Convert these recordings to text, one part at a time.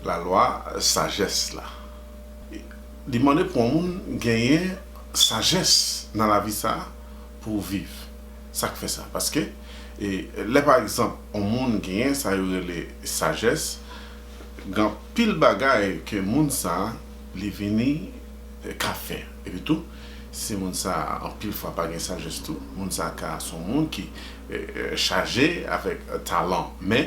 La lwa sajès la. Li mande pou yon moun genyen sajès nan lavi sa a pou w viv. Sa k fè sa? Paske, lè pa egzanp yon moun genyen sa yo rele sajès, gen anpil bagay ke moun sa a li vini ka fè. Epi tou, si moun sa a anpil fwa pa gen sajès tou, moun sa a ka se yon moun ki chaje avèk talan men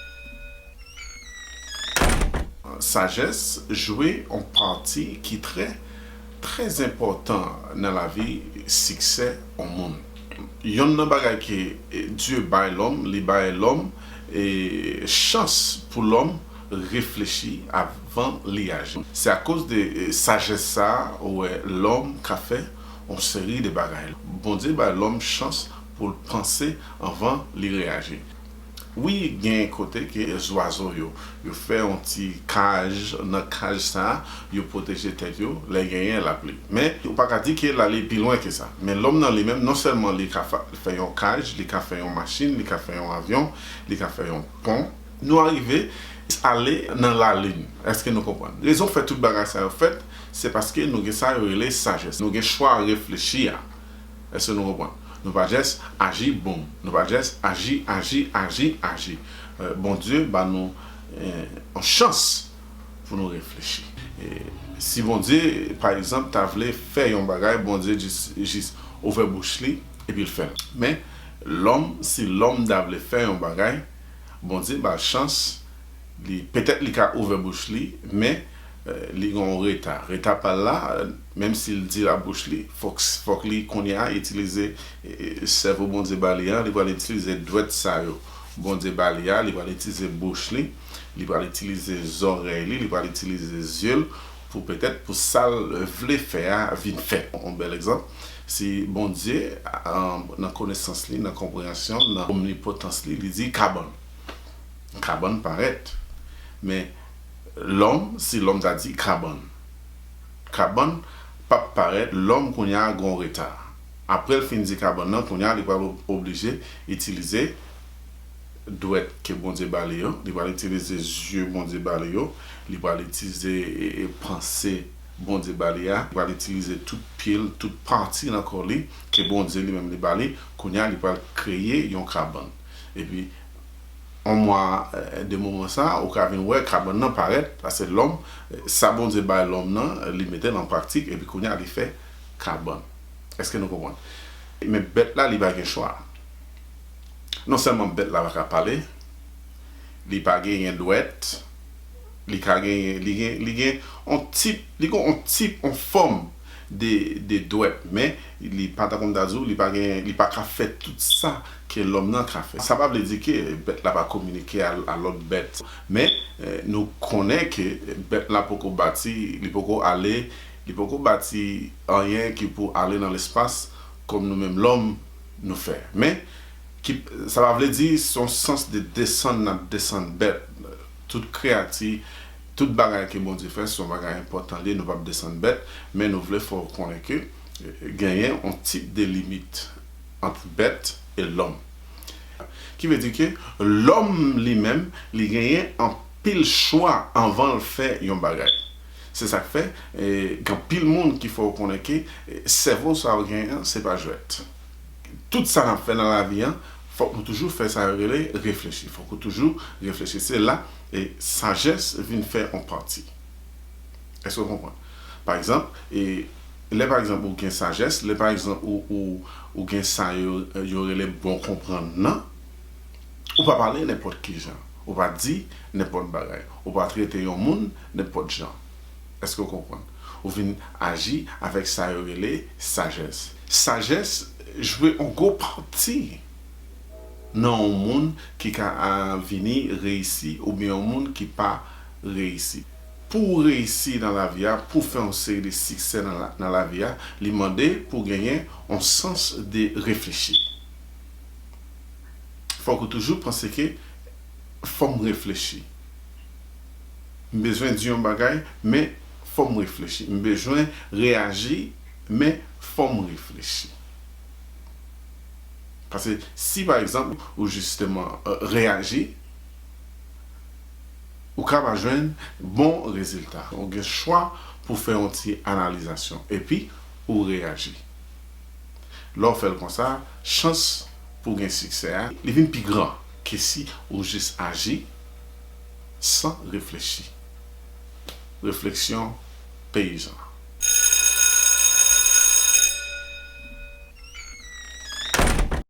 Sajès jwe on pati ki trè, trè zenpòtan nan lavi siksè on moun. Yonn nan bagay ke Dye bay lòm, li bay lòm chans pou lòm reflechi avan li aji. Se akoz de sajès sa a ou wè lòm ka fè on seri de bagay. Bondye bay lòm chans pou l panse anvan li reyaji. Wi gen kote ke zwazo yo yo fè yon ti kaj nan kaj sa yo pwoteje tèt yo lè genyen lapli men ou pa ka di ke lale pi lwen ke sa men lòm nan li menm non sèlman li ka fè yon kaj li ka fè yon machin li ka fè yon avyon li ka fè yon pon nou arive ale nan lalin èske nou konprann rezon fè tout bagay sa yo fèt se paske nou gen sa yo rele sajès nou gen chwa reflechi a. Èske nou konprann? Nou pa jès aji boom. Nou pa jès aji, aji, aji, aji. Bondye ba nou yon chans pou nou reflechi. Si Bondye, pa egzanp, ta vle fè yon bagay, Bondye jis ouvè bouch li epi l fè l. Men, lòm, si lòm ta vle fè yon bagay, Bondye ba l chans, li, petèt li ka ouvè bouch li, men, li gen yon reta. Reta pa l la. Menm si l dil a bouch li, fòk li kounye a itilize sèvo Bondye ba li a, li pral itilize dwèt sa yo Bondye ba li a, li pral itilize bouch li, li pral itilize zòrèy li, li pral itilize zye l pou petèt pou sa l vle fè a vin fèt. Yon bèl egzanp, si Bondye nan konesans li, nan konpreyansyon l, nan omnipotans li, li di kabann, kabann parèt. Men lòm, si lòm ta di kabann. Kabann pap parèt lòm kounya gon reta aprèl fin di kabann nan kounya li pral oblije itilize dwèt ke Bondye bali yo li pral itilize zye Bondye bali yo li pral itize panse Bondye bali a li pral itilize tout pyel tout pati nan kò li ke Bondye li menm li bali kounya li pral kreye yon kabann epi On mwa de moman sa, ou ka vin wè kabann nan parèt, pase lòm, sa Bondye bay lòm nan, li mete l an praktik, epi kounye a li fè kabann. Èske nou konprann? Men bèt la li pa gen chwa. Non sèlman bèt la pa ka pale, li pa genyen dwèt, li ka genyen, li gen, li gen on tip, li gen on tip, on fòm de, de dwèt, men li pa, tankou m ta di w, li pa genyen, li pa ka fè tout sa. Ke lòm nan ka fè. Sa pa vle di ke bèt la pa kominike a lòt bèt. Men, nou konnen ke bèt la poko bati, li poko ale, li poko bati anyen ki pou ale nan lespas kòm nou menm lòm nou fè. Men, sa pa vle di se yon sans de desann n ap desann bèt. Tout kreyati, tout bagay ke Bondye fè se yon bagay enpòtan li, nou p ap desann bèt. Men nou vle fè w konnen ke genyen yon tip de limit. ant bèt e lòm. Ki vle di ke lòm li menm li genyen anpil chwa anvan l fè yon bagay. Se sa k fè gen anpil moun ki fè w konnen ke sèvo sa w genyen an se pa jwèt. Tout sa n ap fè nan lavi an fòk nou toujou fè sa yo rele reflechi. Fòk ou toujou reflechi. Se la sajès vin fè yon pati. Èske w konprann? Pa egzanp, lè pa egzanp ou gen sajès, lè pa egzanp ou gen sa yo rele bon konprann nan, ou pa pale nenpòt ki jan, ou pa di nenpòt bagay, ou pa trete yon moun nenpòt jan. Èske w konprann? Ou vin aji avèk sa yo rele sajès. Sajès jwe yon gwo pati nan yon moun ki ka vini reyisi oubyen yon moun ki pa reyisi. Pou ou reyisi nan lavi a, pou w fè yon seri de siksè nan lavi a, li mande pou w genyen yon sans de reflechi. Fòk ou toujou panse ke fò m reflechi. M bezwen di yon bagay, men fò m reflechi. M bezwen reyaji, men fò m reflechi. Pase si pa egzanp ou jisteman reyaji. Ou ka pa jwenn bon rezilta. Ou gen chwa pou fè yon ti analizasyon epi ou reyaji. Lè w fè l konsa, chans pou w gen siksè a, li vin pi gran ke si ou jis aji san reflechi. Refleksyon peyizan.